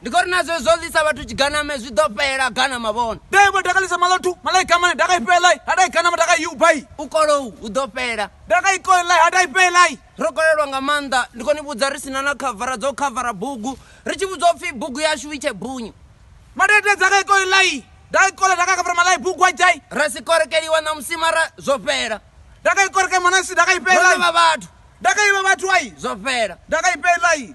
ndi khori na zwe zwo ḽisa vhathu tshiganame zwi ḓo fhela gana mavhona dai vho takalisa maḽothu malai kamane daka ifhelai hadai ganama daka iubai u kolou hu ḓo fhela daka ikoelai hadai fhelai ro kolelwa nga maanḓa ndi khou ni vhudza ri sina na khavara dzo khavara bugu ri tshi vhudzwa upfhi bugu yashu i tshe bunyu madede dzaka ikoelai daka ikola daka khavara malai bugu ajai ra si korekeliwa na musimara zwo fhela daka ikorekai mwanasi daka ro ifhelai ḓivha vhathu daka iva vhathu ai zwo fhela daka ifhelai